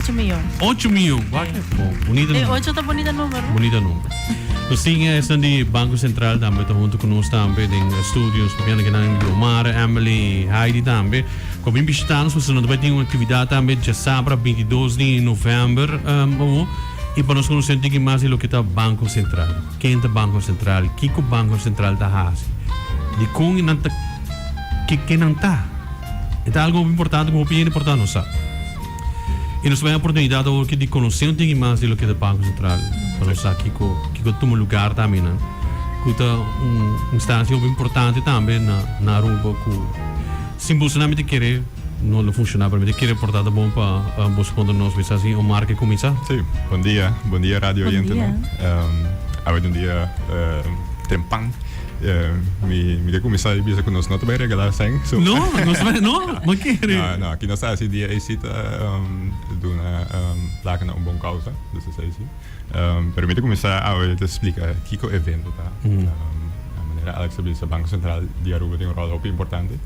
Ocho miyon. Ocho miyon, wak e po. Bonita numero. E ocho ta bonita numero. Bonita numero. Nos tin esnan di Banco Central tambe ta hunto cu nos tambe den studio. Nos papiando cu nan Guiomar, Emily, Heidi tambe. Cu a bin bishitanos pasobra nan ta bai tin un actividad tambe diasabra bintidos di november awor. Y pa nos conoce un tiki mas di loke ta Banco Central. Ken ta Banco Central? Kico Banco Central ta haci? Dicon y nan ta? Ke nan ta? E ta algo hopi importante cu hopi hende por ta nos sa. Y nos ta bay oportunidad awor ki di conoce un tiki mas di loke ta Banco Central, pa nos sa kico kico tuma lugar tambe nan, cu ta un instancia hopi importante tambe na na Aruba cu sin boso nan mita kere no lo funciona, pero mita kere porta ta bon pa boso conta nos mester haci un marca y cuminsa. Sí, buen dia, buen dia radio oyente nan, Buen dia. Awe ta un dia tempan. mi mi ke kuminsá di bisa ku nos no ta bai regalá sèn. So No, nos no, no, por ke? No, no, aki nos ta hasi dia esei ta duna plaka na un bon kousa, dus es esei. Pero mi ta kuminsá awe ta splika kiko evento ta. A manera Alex ta bisa Banko Sentral di Aruba tin un ròl hopi importante,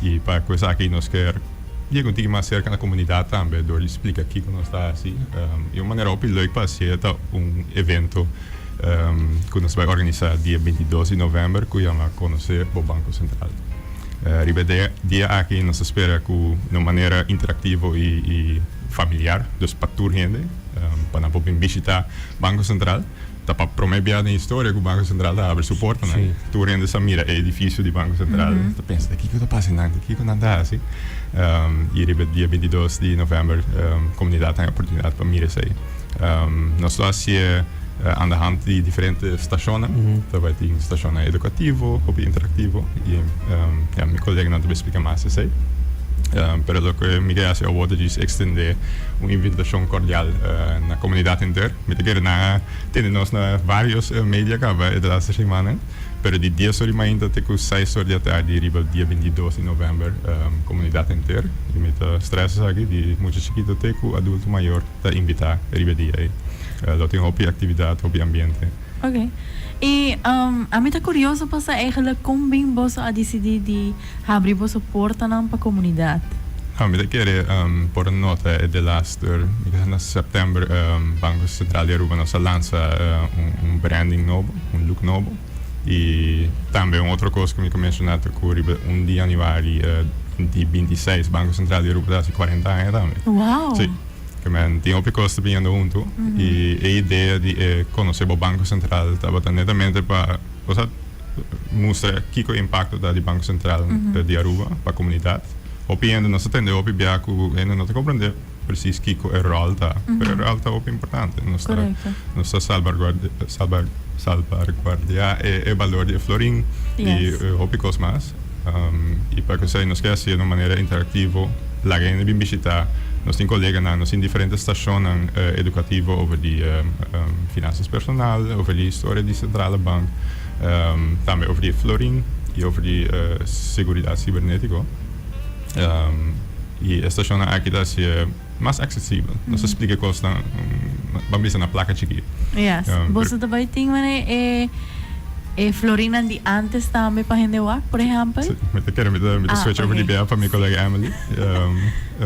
i pa ku esaki nos ker yega un tiki mas serka na komunidat tambe dor di splika kiko nos ta hasi. I un manera hopi lèk pa hasié ta un evento. um, cu nos bai organisa dia bintidos di november, cu yama Conoce bo Banco Central. Uh, riba e dia, dia aki nos ta spera cu na un manera interactivo y, y familiar, dus pa tur hende, um, pa nan por bin bishita Banco Central. Ta pa prome bia den historia cu Banco Central ta abri su portanan. Sí. Tur hende sa mira e edificio di Banco Central, ta pensa ta kico ta pasa di nan, ta kico nan ta haci. Um, y riba e dia bintidos di november, um, comunidad ta haña oportunidad pa mira esey. Nos lo hacié andahand di diferente stacionnan. Ta bai tin stacionnan educativo, hopi interactivo y ja, mi coleganan ta bai splica mas esey. Pero loke mi ke haci awo ta djis extendé un invitacion cordial na comunidad henter. Mi ta kere nan a tende nos na varios media caba e laster simannan, pero di dies or di mainta te cu seis or di atardi riba dia bintidos di november, comunidad henter, y mi ta stresa esaki di mucha chikito te cu adulto mayor. ta invitá riba e dia ei. Lo tin hopi aktividat, hopi ambiente. Oké. I a mi ta kurioso pa sa eigelik kon bim boso a disidí di habri boso portanan pa komunidat? Nau, mi ta kere por nota e delaster, mi ta sa na sèptèmber Banko Sentral di Aruba nos a lansa un branding nobo, un luk nobo. Y tambe un otro cos cu mi ta menciona ta cu riba un di januari di binti seis Banco Central di Aruba ta haci cuarenta aña tambe. Wow! Sí. Cu men tin hopi cos biniendo hunto y e idea di e conoce bo Banco Central tabata netamente pa, osea, mustra kico impacto ta di Banco Central di Aruba pa comunidad. Hopi hende no sa tende, hopi bia cu hende no ta comprende. precies kiko e rol ta, pero e rol ta hopi importante. Nos ta, nos ta salbarguardia e balor di e florin i hopi kos mas. I pa kusai nos ke hacié den un manera interactivo, laga hende bin bishita nos tin koleganan, nos tin diferente stashonnan educativo over di finansias personal, over di historia di Centrale Bank, tambe over di e florin i over di seguridad cibernetico. y e stacionnan aki ta haci e mas accesibel. Nos ta splica e cosnan, ban bisa na placa chikí. Yes. Um, Boso ta bai tin mane e e florinan di antes tambe pa hende wak, por ejempel? Sí, mi ta kere, mi ta, mi ta ah, switch okay. over di bea pa mi colega Emily, um,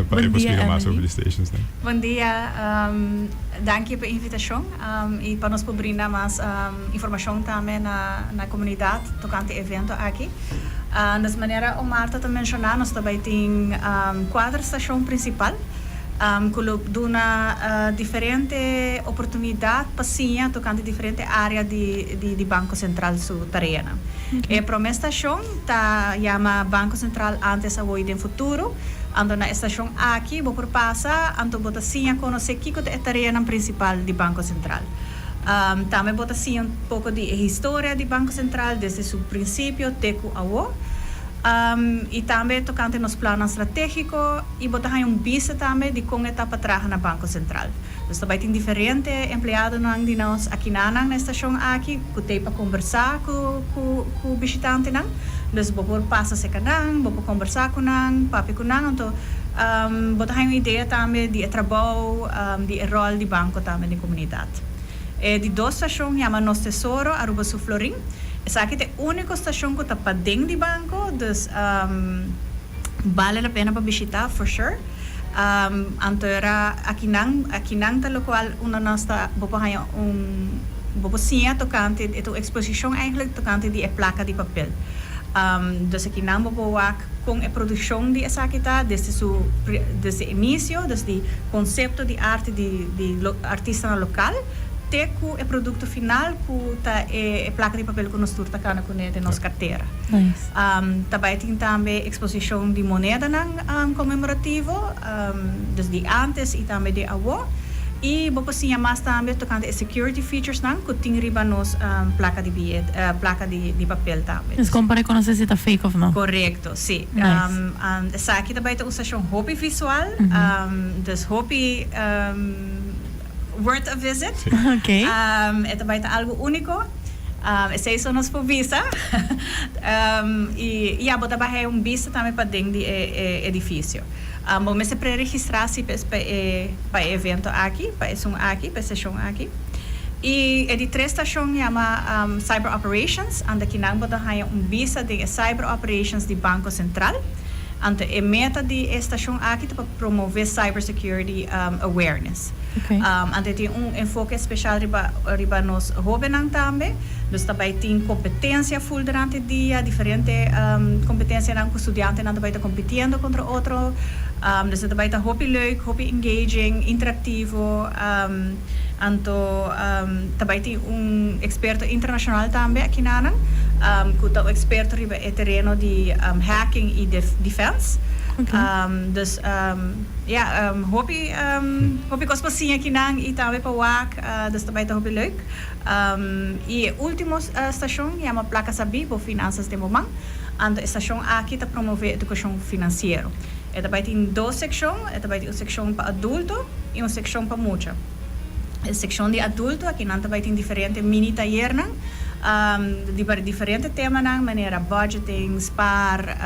pa e por splica mas over di stations. Ne? Bon dia, um, danki pa e invitacion um, y pa nos por brinda mas um, informacion tambe na, na comunidad tocante e evento aki. Andes manera Omar ta ta menshona nos ta bai tin kuater stashon prinsipal ku lo duna diferente oportunidat pa siña tokante diferente área di Banko Sentral su tareanan. E promé stashon ta yama Banko Sentral Antes, Awo i den Futuro. Anto na e stashon aki bo por pasa anto bo ta siña konosé kiko ta e tareanan prinsipal di Banko Sentral. Tambe bo ta siña un poko di e historia di Banko Sentral desde su prinsipio te ku awo, i tambe tokante nos plannan stratégiko, i bo ta haña un bista tambe di kon e ta pa traha na Banko Sentral. Nos ta bai tin diferente empleadonan di nos akinanan na e stashon aki ku t'ei pa kombersá ku ku bishitantenan. Dus bo por pasa serka nan, bo por kombersá ku nan, papia ku nan, anto bo ta haña un idea tambe di e trabou, di e ròl di banko tambe den komunidad. Universidad. E di dos stacion yama Nos Tesoro, Aruba Su Florin. Esaki ta e unico stacion cu ta paden di banco, dus bale la pena pa bishita for sure. Anto e ra akinan, akinan ta locual unda nos ta, bo por haya un, bo por siña tocante, e ta un exposicion eigenlijk tocante di e placa di papel. Dus akinan bo por wak. Kon e produkshon di esaki ta desde su desde inisio, desde konsepto di arte di di artistanan lokal te ku e produkto final ku ta e e plaka di papel ku nos tur ta kana kuné den nos kartera. Ta bai tin tambe eksposishon di monedanan konmemorativo. desde antes y tambe de awo. Y bo por siña mas tambe tocante e security features nan cu tin riba nos placa di billete, placa di papel tambe. Es con pa reconoce si ta fake of no. Correcto, si. Nice. Esaki ta bay ta un stacion hopi visual, dus hopi worth a visit. Si. Ok. E ta bay ta algo unico. Esey so nos por bisa. Y ya, bo ta bay hay un bista tambe paden di e edificio. Bo mester pre-registrá si p'es pa e pa e evento aki, pa esun aki, pa e seshon aki. I e di tres stashon yama Cyber Operations, anto kinan bo ta haña un bisa den e Cyber Operations di Banco Central. Anto e meta di e stashon aki ta pa promové cybersecurity awareness. Ante tin un enfoke especial riba riba nos hobennan tambe. Nos ta bai tin competencia full durante dia, diferente competencianan cu studiantenan ta bai ta compitiendo contra otro. Nos a ta bai ta hopi leuk, hopi engaging, interactivo. Anto ta bai tin un experto internacional tambe aki nanan cu ta un experto riba e tereno di hacking y defense. Dus. Ya, hopi hopi kos pa siña kinan i tambe pa wak, dus ta bai ta hopi leuk. I e último stashon yama Plaka Sabí bo Finansas den bo Man. Anto e stashon aki ta promové edukashon finansiero. E ta bai tin dos sekshon, e ta bai tin un sekshon pa adulto i un sekshon pa mucha. E sekshon di adulto aki nan ta bai tin diferente mini tayernan di diferente temanan manera budgeting, spaar,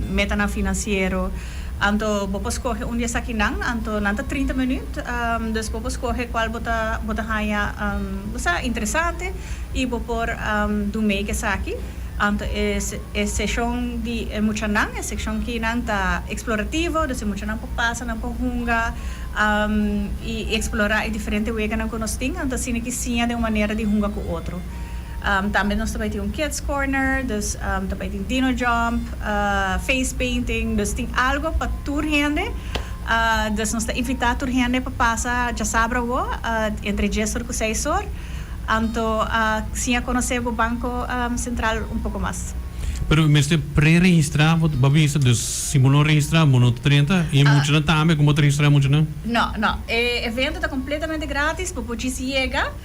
metanan finansiero. Anto bo por skohe un di esakinan, anto nan ta trinta minüt, dus bo por skohe kual bo ta bo ta haña, bo sa, interesante i bo por dun mei ku esaki. Anto e e seshon di e muchanan, e sekshon kinan ta eksplorativo, dus e muchanan por pasa, nan por hunga i eksplorá e diferente weganan ku nos tin, anto asina ki siña den un manera di hunga ku otro. Tambe nos ta bai tin un kids corner, dus ta bai tin dino jump, face painting, dus tin algo pa tur hende. Dus nos ta invita tur hende pa pasa djasabra awo entre djes or ku seis or, anto siña konosé bo Banko Sentral un poko mas. Pero bo mester pre-registrá, bo ta bisa, dus si bo no registrá bo no ta drenta, i e muchanan tambe, kon bo ta registrá e muchanan? No, no. E evento ta kompletamente grátis, bo por djis yega.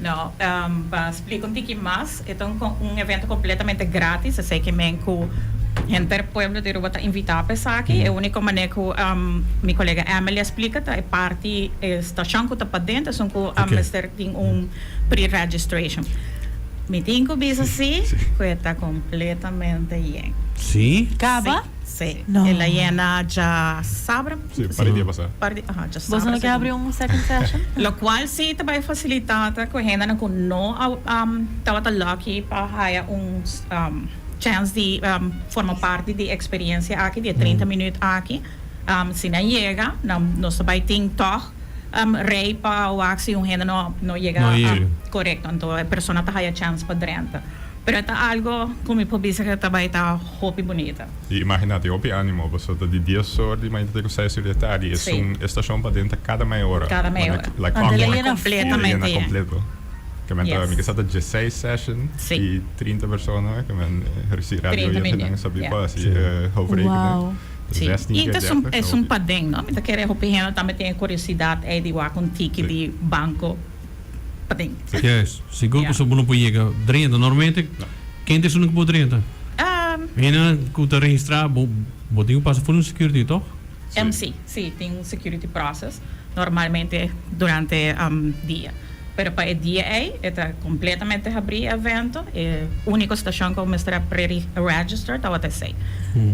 No, pa splika un tiki mas, e ta un evento completamente gratis, esey ki men cu henter pueblo di Aruba ta invita pa esaki. E unico maner cu mi colega Emily a splika ta e parti, e stacion cu ta padent esun cu a mester tin un pre-registration. Mi tin cu bisa si, cu e ta completamente yen. Si? Caba? Sí, el a yena dja sabra. Sí, un par di dia pasá. Un par di, aha, dja sabra. Boso no ke habri un second session? Lokual sí ta bai fasilitá ta ku hendenan ku no a tabata lucky pa haya un chèns di forma parti di eksperensia aki, di e treinta minüt aki. Si nan yega, nan, nos ta bai tin tòg rei pa wak si un hende no yega. No yega. Korekto. Anto e persona ta haya chèns pa drenta. Pero e ta algo cu mi por bisa ca ta bay ta hopi bunita. Y imagina, tin hopi animo, pasobra ta di dies ora di mañana ta cu seis ora di e tardi. Esun estacion paden ta cada meia ora. Cada meia ora. Manda like once. Lena completamente. Lena completo. Ca men ta, mi ke sa ta diesseis session di trinta persona cu men reci radio ayer cu nan sabi pa haci e hoofdrekening. Ta zestien keer dertig, ta hopi. Esun paden, no? Mi ta kere hopi hende tambe tin e curiosidad ey di wak un tiki di banco. pa dentro. Yes, sigur pasobra bo no por yega drenta. Normalmente ken ta esun ku por drenta? Hendenan ku ta registrá bo, bo tin ku pasa for di un security, tòg? Sí, sí, tin un security process, normalmente durante dia. Pero pa e dia ei e ta completamente habrí e evento, e único stashon ku bo mester a pre-register tabata esei.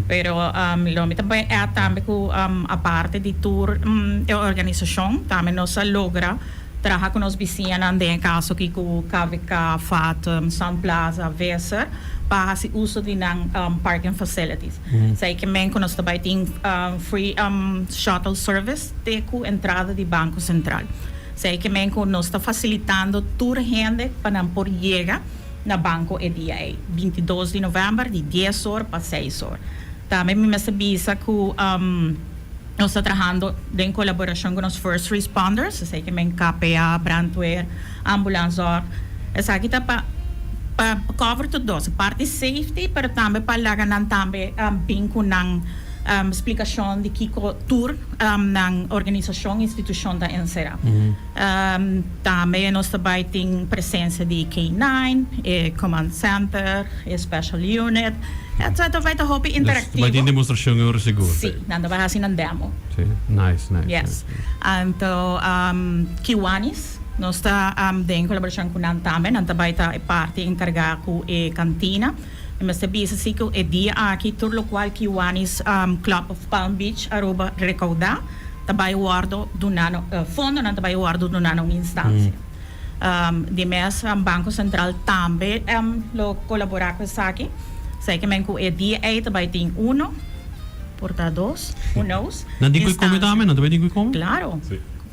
Pero lo mi ta bai add tambe ku aparte di tur e organisashon tambe nos a logra Traha cu nos bisiñanan den e caso aki cu KVK, Fathom, Sun Plaza, Weser pa haci uso di nan parking facilities. Esey ki men cu nos ta bay tin free shuttle service te cu entrada di Banco Central. Esey ki men cu nos ta facilitando tur hende pa nan por yega na banco e dia ey, binti dos di november di dies or pa seis or. Tambe mi mester bisa cu. Nos ta trahando den colaboracion cu nos First Responders, esey ke men KPA, Brandweer, Ambulanzorg. Esaki ta pa pa cover tur dos, parti safety pero tambe pa laga nan tambe bin cu nan splicacion di kico tur nan organisacion, institucion ta encera. Tambe nos ta bai tin presensa di K-nine, e Command Center, e Special Unit, etc. Ta bai ta hopi interactivo. Nos ta bai tin demostracion e ora sigur. Si, nan ta bai haci nan demo. Si, nice, nice. Yes. Anto Kiwanis, nos ta den colaboracion cu nan tambe. Nan ta bai ta e parti encarga cu e cantina. Mi mester bisa si cu e dia aki tur locual Kiwanis Club of Palm Beach Aruba recauda ta bay wordo duna na fondonan ta bay wordo duna na un instancia. Di mes Banco Central tambe lo colabora cu esaki. Esey ke men cu e dia ey ta bay tin uno, por ta dos, who knows, instancia. Nan tin cu e come tambe? Nan ta bay tin cu e come? Claro.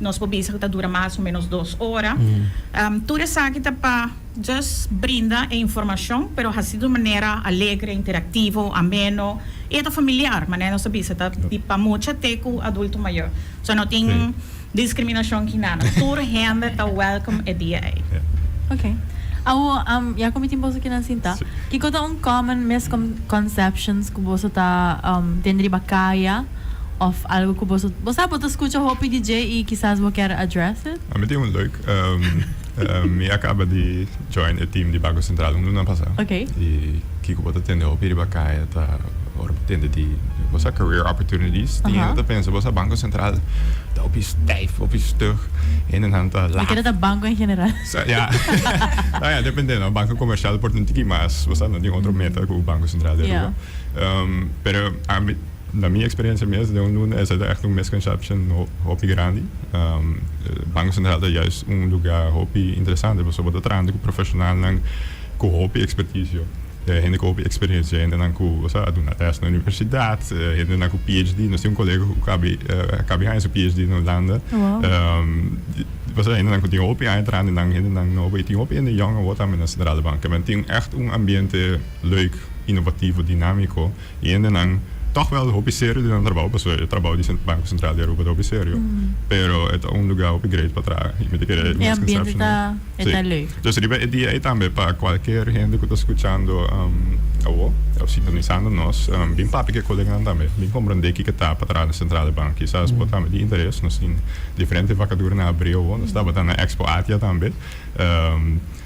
Nos por bisa cu ta dura mas o menos dos ora. Tur esaki ta pa just brinda e informacion, pero haci di un manera alegre, interactivo, ameno y e ta familiar, manera nos ta bisa ta di pa mucha te cu adulto mayor. So no tin discriminacion aki nada. Tur hende ta welcome e dia ei. Ok. Awor, ya cu mi tin boso aki nan sinta, kico ta un common misconceptions cu boso ta tin riba caya? Of algo cu boso, bo sa bo ta scucha hopi di dje y kisas bo kier address it? Mi tin un leuk. Mi a caba di join e team di Bago Central un luna pasa. Ok. Y kico bo ta tende hopi riba caya ta ora bo tende di, bo sa, career opportunities. Tin hende ta pensa, bo sa, Banco Central ta hopi stijf, hopi stug. Hendenan ta laf. Mi kere ta banco en general. Sa, ya. Sa, ya, depende, no. Banco comercial por tin tiki mas, bo sa, no tin otro meta cu Banco Central di Aruba. Ya. Pero, a mi. Na mi experiencia mes den un luna esa ta echt un misconception hopi grandi. Banco Central ta juist un luga hopi interesante pasobra bo ta trahando cu profesionalnan cu hopi experticio, hende cu hopi experiencia, hendenan cu a duna les na universidad, hendenan cu PHD, nos tin un colega cu acabe haña su PHD na Hulanda, pasobra hendenan cu tin hopi haña trahando nan hendenan nobo y tin hopi hende yòn awor tambe na Centrale Bank. Cabendo tin echt un ambiente leuk, innovativo, dinamico. E hendenan tòg wèl hopi serio di nan trabou pasobra e trabou di Banko Sentral di Aruba ta hopi serio. Pero e ta un lugar hopi great pa traha i mi ta kere misconception ei. Dòs riba e dia ei tambe pa kualker hende ku ta skuchando awo òf sintonisando nos bin papia ku e koleganan tambe. Bin komprondé kiko ta pa traha na Sentral di Bank. Kisas bo tambe tin interes. Nos tin diferente vakaduranan abrí awo. Nos tabata na Expo Atia tambe.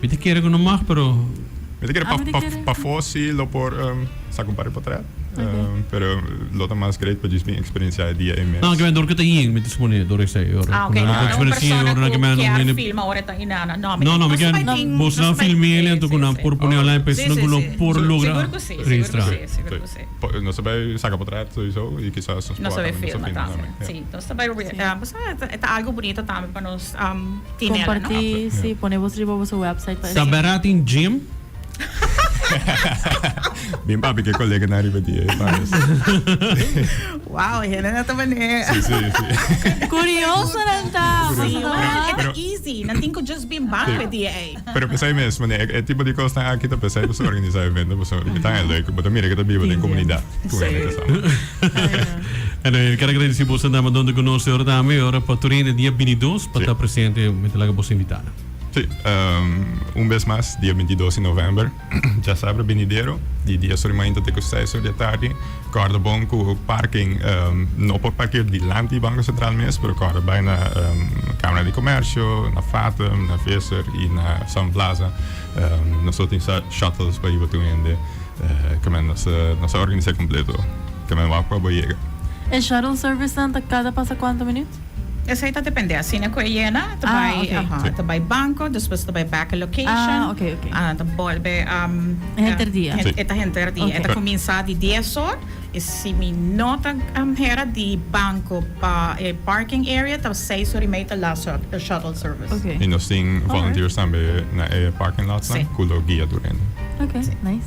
Mi ta kere ku no mag pero. Mi ta kere pafó si lo por saka un par di potret pero lo ta mas great pa djis bin eksperensiá e dia ei mes. Nan kimen dor ku ta yin mi ta supone dor esei e ora ku nan lo por eksperensiá e ora kimen nan wini. No mi no ken bos nan film'é el enton ku nan por pone online pa esei nan ku lo por logra registrá. Nos ta bai saka potret souiso i kisas nos por hasta nos ta filma tambe. Comparti si pone bos riba boso website pa. Ta bera tin gym? Bin papia ke coleganan riba di e panos. Wow, e hende nan ta bene. Si, si, si. Curiosonan ta. Pasobra nan e ta easy. Nan tin cu just bin ban cu e di ei. Pero p'esei mes, mane, e tipo di kosnan aki ta p'esei bo su organisá evento pasobra bo ta hende ku bo ta mira ku ta biba den komunidat ku hende kasabi. Anyway, mi ker a gradisí boso nan bandon ta ku nos e ora tambe, e ora pa Turin e dia bintidos pa ta presente. Mi ta laga boso invitá. Sí, un bes mas dia bintidos di novèmber. Djasabra benidero, di dies ora di mainta te ku seis ora di atardi, kòrda bon ku parking no por park'é dilanti di Banko Sentral mes, pero kòrda bai na Kamara di Komèrsio, na Fatum, na Visser i na Sun Plaza. Nos lo tin sa shuttles pa hiba tur hende, kua men nos a organis'é kompleto, kua men wak pa bo yega. E shuttle service nan ta kada pasa kuantu minüt? Esei ta depende, asina ku e yena e ta bai, aha, e ta bai banko, despues e ta bai bèk e lokashon, a ta bolbe, Henter di a. E ta henter di a, e ta kuminsá di dies or, i si mi no ta hera di banko pa e parking area ta seis or i mei ta last shot, e shuttle service. I nos tin volunteers tambe na e parking lots nan ku lo guia tur hende.